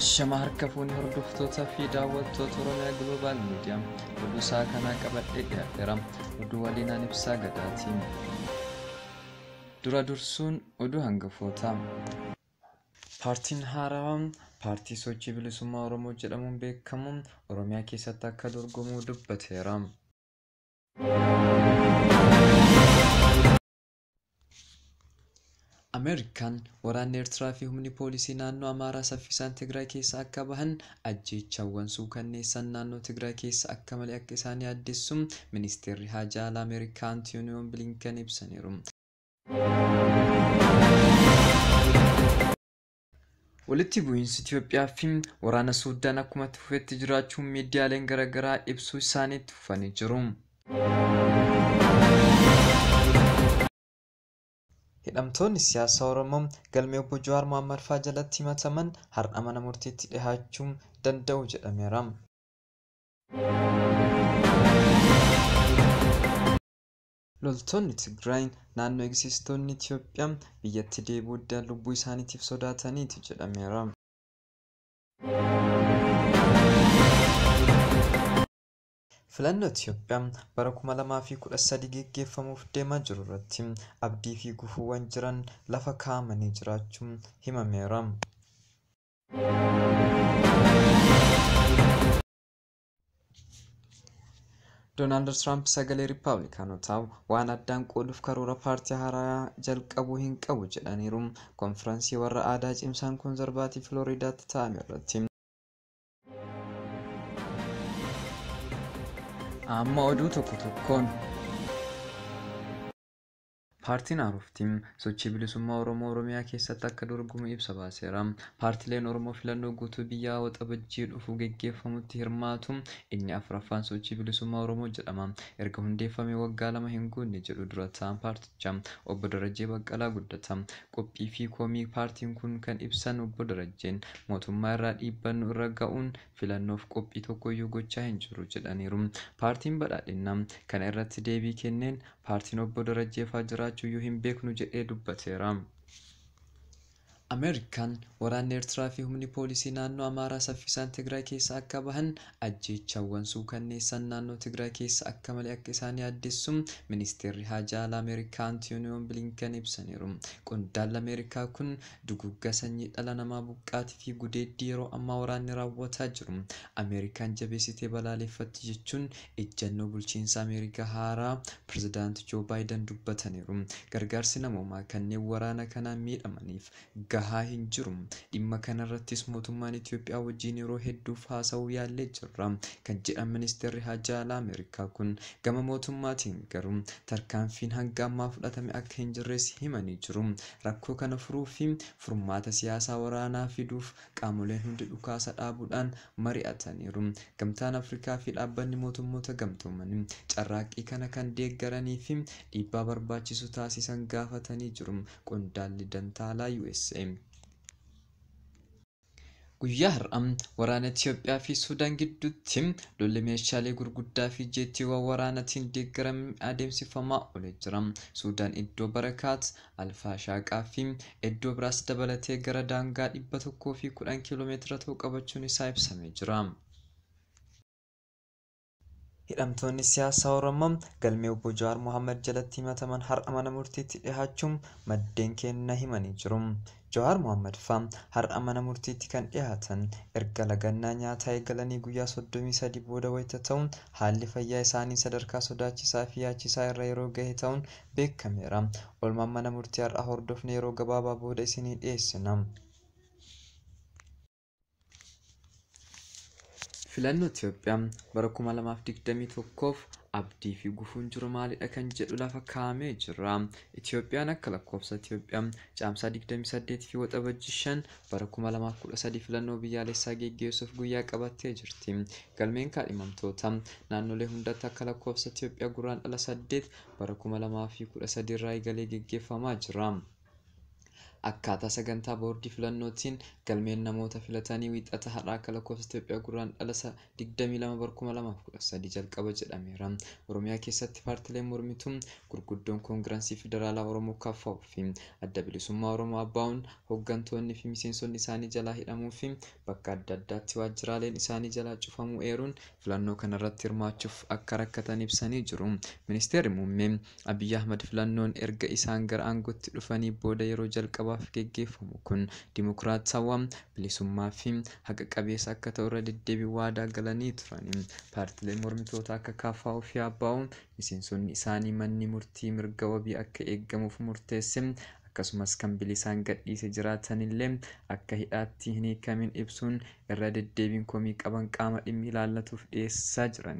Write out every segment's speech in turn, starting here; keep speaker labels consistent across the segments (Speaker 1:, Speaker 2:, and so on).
Speaker 1: Ashama harka fuunee hordoftootaa fi daawwattoota Oromiyaa Global Media oduu isaa kanaa qabadhee dhiyaadheera. Oduu waliin aan ibsaa gadaatiin. Dura dursuun oduu hangafootaa. Paartiin haarawaa paartii sochii bilisummaa Oromoo jedhamuun beekamu Oromiyaa keessatti akka dorgomuu dubbateera. Ameerikaan waraanni Ertiraa fi humni poolisii naannoo Amaaraa saffisaan Tigraay keessa akka bahan ajjeechaawwan suukanneessan naannoo Tigraay keessa akka malee akka isaan yaaddessu Ministeerri Haajaa Alaa Ameerikaa Antiyooniyoon Bilinken ibsaniiru. Walitti bu'iinsi Itiyoophiyaa fi waraana Suuddaan akkuma itti fufetti jiraachuu miidiyaaleen garaagaraa ibsuu isaanii itti fufanii jiru. Hidhamtoonni siyaasaa Oromoo galmee obbo Jawaar Mohaammed faa jalatti himataman har'a mana murtiitti dhihaachuu danda'u jedhameera. Loltoonni Tigraay naannoo eegsistoonni Itiyoophiyaa biyyatti deebi'uu didan lubbuu isaaniitiif sodaataniiti jedhameera. Filannoo Itiyoophiyaa bara 2013 geggeeffamuuf deemaa jiru irratti abdii fi gufuuwwan jiran lafa kaa'amanii jiraachuu himameera. Doonaald Tiraamp sagalee Riippaabilikaanotaa waan addaan qooduuf karoora paartii haaraa jalqabuu hin qabu jedhaniiru. Konfiraansii warra aadaa cimsaan konzarvaatii Filooriidaatti taa'ame irratti. Amma oduu tokko tokkoon. Paartiin Aarofti sochii bilisummaa Oromoo Oromiyaa keessatti akka dorgomu ibsa baaseera. Paartileen Oromoo filannoo guutuu biyyaa Waxabajjii dhufu geggeeffamutti hirmaatu inni 4ffaan Sochii Bilisummaa Oromoo jedhama. Erga hundeeffamee waggaa lama hin guunne jedhu dura taa'aan paartichaa Obbo Darajjee Baqqalaa Guddataa. Qophii fi komii paartiin kun kan ibsan Obbo Darajjeen, mootummaa irraa dhiibbaan nu irra ga'uun filannoof qophii tokkoyyuu gochaa hin jirru jedhaniiru. Paartiin Badhaadhinnaa kana irratti deebii kenneen, paartiin Obbo Darajjeefaa jiraachuyyuu hin beeknu jedhee dubbateera. Ameerikaan waraanni Eertiraa fi humni poolisii naannoo Amaaraa saffisaan Tigraay keessaa akka bahan ajjeechaawwan suukanneessaan naannoo Tigraay keessa akka malee akka isaan yaaddessu Ministeerri Haajaa Alaa Ameerikaa Antiyooniyoon Biliinken ibsaniiru. Qondaalli Ameerikaa kun duguuggaa sanyii dhala namaa, buqqaatii fi gudeeddii yeroo ammaa waraanni raawwataa jiru Ameerikaan jabeessitee balaaleffatti jechuun Ijjannoo bulchiinsa Ameerikaa haaraa Pirezidaant Joo Baayidan dubbataniiru. Gargaarsi namoomaa kanneen waraana kanaan miidhamaniif gahaa hin jiru. Dhimma kanarrattis mootummaan Itiyoophiyaa wajjin yeroo hedduuf haasa'uu yaallee jirra kan jedhan Ministeerri Haajaa Alaa Ameerikaa kun gama mootummaatiin garuu tarkaanfiin hanga ammaa fudhatame akka hin jirres himanii jiru. Rakkoo kana furuufi furmaata siyaasaa waraanaa fiduuf Qaamoleen hundi dhukaasa dhaabuudhaan mari'ataniiru. Gamtaan Afrikaa fi Dhaabbanni Mootummoota Gamtoomanii carraaqqii kana kan deeggaranii fi dhiibbaa barbaachisu taasisan gaafatanii jiru, qondaalli dantaa alaa usa. Guyyaa har'a waraana Itiyoophiyaa fi Suudaan gidduutti lolli meeshaalee gurguddaa fi jeettiiwwan waraanatiin deeggarame adeemsifamaa oole jira. Suudaan iddoo Barakaat Alfaashaa Qaaffii, eddoo biraas dabalatee gara daangaa 110 km ta'u qabachuun isaa ibsamee jira. Hidhamtoonni siyaasaa Oromoo galmee Obbo Jawaar Mohaammad jalatti himataman har'a mana murtiitti dhihaachuu maddeen keenna himanii jiru. Jawaar Mohammed faa har'a mana murtiitti kan dhiyaatan erga lagannaa nyaataa eegalanii guyyaa 33 booda wayita ta'u, haalli fayyaa isaanii sadarkaa sodaachisaa fi yaachisaa irra yeroo gahe ta'uun beekameera. Oolmaa mana murtii har'aa hordofne yeroo gabaabaa booda isinii dhiyeessina. Filannoo Itoophiyaa bara 2021f abdii fi gufuun jiru maalidha kan jedhu lafa kaa'amee jira. Itoophiyaan akka lakkoofsa Itoophiyaa caamsaa 28 fi waxabajjii 5 bara 2013 filannoo biyyaalessaa geggeessuuf guyyaa qabattee jirti. Galmeen kaadhimamtoota naannolee hundatti akka lakkoofsa Itoophiyaa gurraan dhala 8 bara 2013 irraa eegalee geggeeffamaa jira. Akkaataa sagantaa boordii filannootiin galmeen namoota filatanii Wiixata har'aa akka lakkoofsa Itoophiyaa Gurraandhala 22 bara 2013 jalqaba jedhameera. Oromiyaa keessatti paartileen mormituu gurguddoon Koongiransii Federaalaa Oromoo KFO fi Adda Bilisummaa Oromoo ABOn hoggantoonni fi miseensonni isaanii jalaa hidhamuu fi bakka adda addaatti waajjiraaleen isaanii jalaa cufamuu eeruun filannoo kanarratti hirmaachuuf akka rakkatan ibsanii jiru. Ministeerri Muummee Abiy Ahmad filannoon erga isaan gara aangootti dhufanii booda yeroo jalqabaaf geggeeffamu kun dimokiraatawaa, bilisummaa fi haqa qabeessa akka ta'u irra deddeebiin waadaa galanii turani. Paartileen mormitootaa akka KFO fi ABO miseensonni isaanii manni murtii mirga wabii akka eegamuuf murteesse akkasumas kan bilisaan gadhiise jiraatanillee akka hidhaatti hin hiikamin ibsuun irra deddeebiin komii qaban qaama dhimmi ilaallatuuf dhiyeessaa jiran.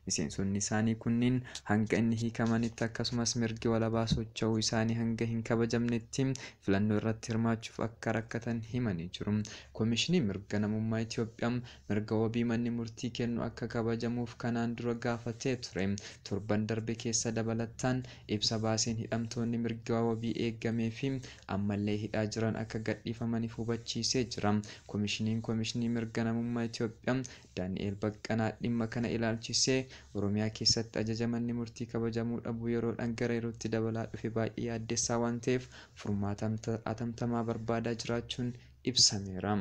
Speaker 1: Miseensonni isaanii kunniin hanga inni hiikamanitti akkasumas mirgi walabaa socho'uu isaanii hanga hin kabajamnetti filannoo irratti hirmaachuuf akka rakkatan himanii jiru. Komishiniin Mirga Namummaa Itoophiyaa mirga wabii manni murtii kennu akka kabajamuuf kanaan dura gaafatee ture. Torban darbe keessa dabalataan ibsa baaseen hidhamtoonni mirgi wabii eegameefii ammallee hidhaa jiran akka gadhiifamaniif hubachiisee jira. Komishiniin Komishinii Mirga Namummaa Itoophiyaa Daani'eel Baqqanaa dhimma kana ilaalchisee Oromiyaa keessatti ajaja manni murtii kabajamuu dhabuu yeroodhaan gara yerootti dabalaa dhufe baay'ee yaaddessaa waan ta'eef furmaata atamtamaa barbaadaa jiraachuun ibsameera.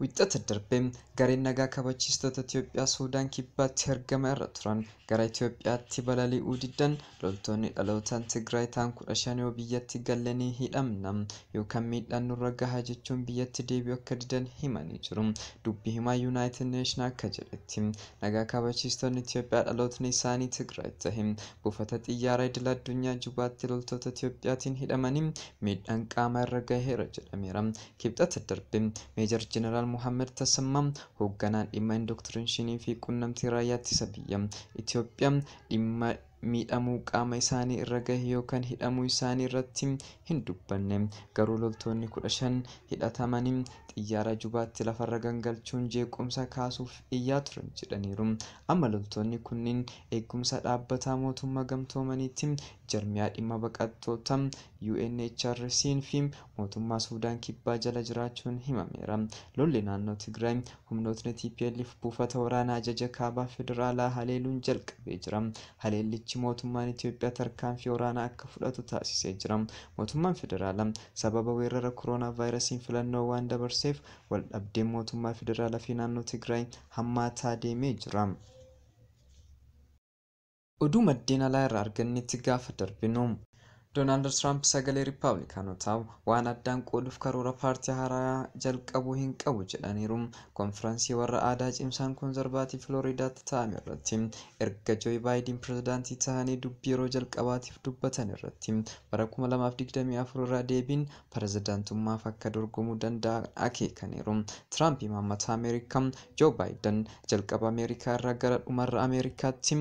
Speaker 1: Wixxata darbe gareen nagaa kabachiistota Itoophiyaa Suudaan Kibbaatti argama irra turan gara Itoophiyaatti balali'uu diddan loltoonni dhalootaan Tigraay ta'an kudha shan yoo biyyatti galle ni hidhamna yookaan miidhaan nurra gaha jechuun biyyatti deebi'uu akka didan himanii jiru. Dubbi himaa Yuunaayitid Neeshin akka jedhetti Nagaa kabachiistonni Itiyoophiyaa dhalootni isaanii Tigraay tahe buufata xiyyaaraa idil addunyaa Jubaatti loltoota Itiyoophiyaatiin hidhamanii miidhaan qaamaa irra gaheera jedhameera. Kibxata darbe Meejar Jeneraal Mohaammad Tasammaa hoogganaan dhimma Indoktirinshinii fi Qunnamtii Raayyaa Ittisa Biyya Itiyoophiyaa dhimma miidhamuu qaama isaanii irra gahe yookan hidhamuu isaanii irratti hin dubbanne. Garuu loltoonni 15 hidhatamani xiyyaara Jubaatti lafarra gangalchuun jeequmsa kaasuuf iyyaa turan jedhaniiru. Amma loltoonni kunniin eegumsa dhaabbataa mootumma gamtoomaniitti, jarmiyaa dhimma baqattoota, UNHRCn fi mootummaa Suudaan Kibbaa jala jiraachuun himameera. Lolli naannoo Tigraay Humnootni tplf buufata waraanaa ajaja kaabaa federaalaa haleeluun jalqabee jira. Haleellichi mootummaan Itoophiyaa tarkaanfii waraanaa akka fudhatu taasisee jira. Mootummaan federaalaa sababa weerrara koronaavaayirasiin filannoo waan dabarseef waldhabdeen mootummaa federaalaa fi naannoo Tigraay hammaataa deemee jira. Oduu maddeen alaa irraa argannetti gaafa darbinu, Doonaald Tiraamp sagalee Rippaablikaanotaa waan addaan qooduuf karoora paartii haaraya jalqabuu hin qabu jedhaniiru. Konfiransii warra aadaa cimsaan Konzarvaatiiv Filooriidaatti taa'ame irratti erga Jooy Baayidiin pirezidaantii tahanii dubbii yeroo jalqabaatiif dubbatan irratti bara 2024 irra deebiin pirezidantummaaf akka dorgomuu danda'an akeekaniiru. Tiraamp imaammata Ameerikaa Joo Baayidan jalqaba Ameerikaa irraa gara dhumarra Ameerikaatti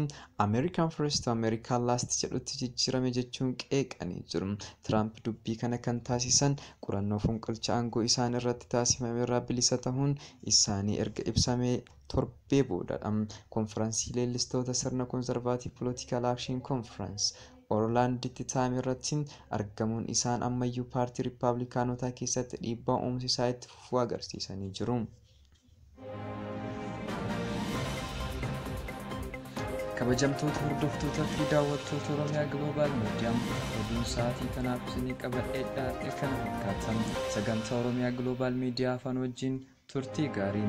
Speaker 1: American First to America Last jedhutti jijjiirame jechuun qeeqanii jiru. Tiraamp dubbii kana kan taasisan qorannoo fonqolcha aangoo isaan irratti taasifame irraa bilisa tahuun isaanii erga ibsamee torbee boodadha. Konfiransii leellistoota sirna Conservative Political Action Conference Orlaand Titaam irratti argamuun isaan ammayyuu paartii Rippaablikaanotaa keessatti dhiibbaa uumsi isaa itti fufuu agarsiisanii jiru. Kabajamtoota hordoftoota fi daawwattoota Oromiyaa Global Media oduun sa'aatii kanaaf isinii qabadhee dhiyaadhe kana fakkaata. Sagantaa Oromiyaa Global Media afaan wajjin turtii gaarii.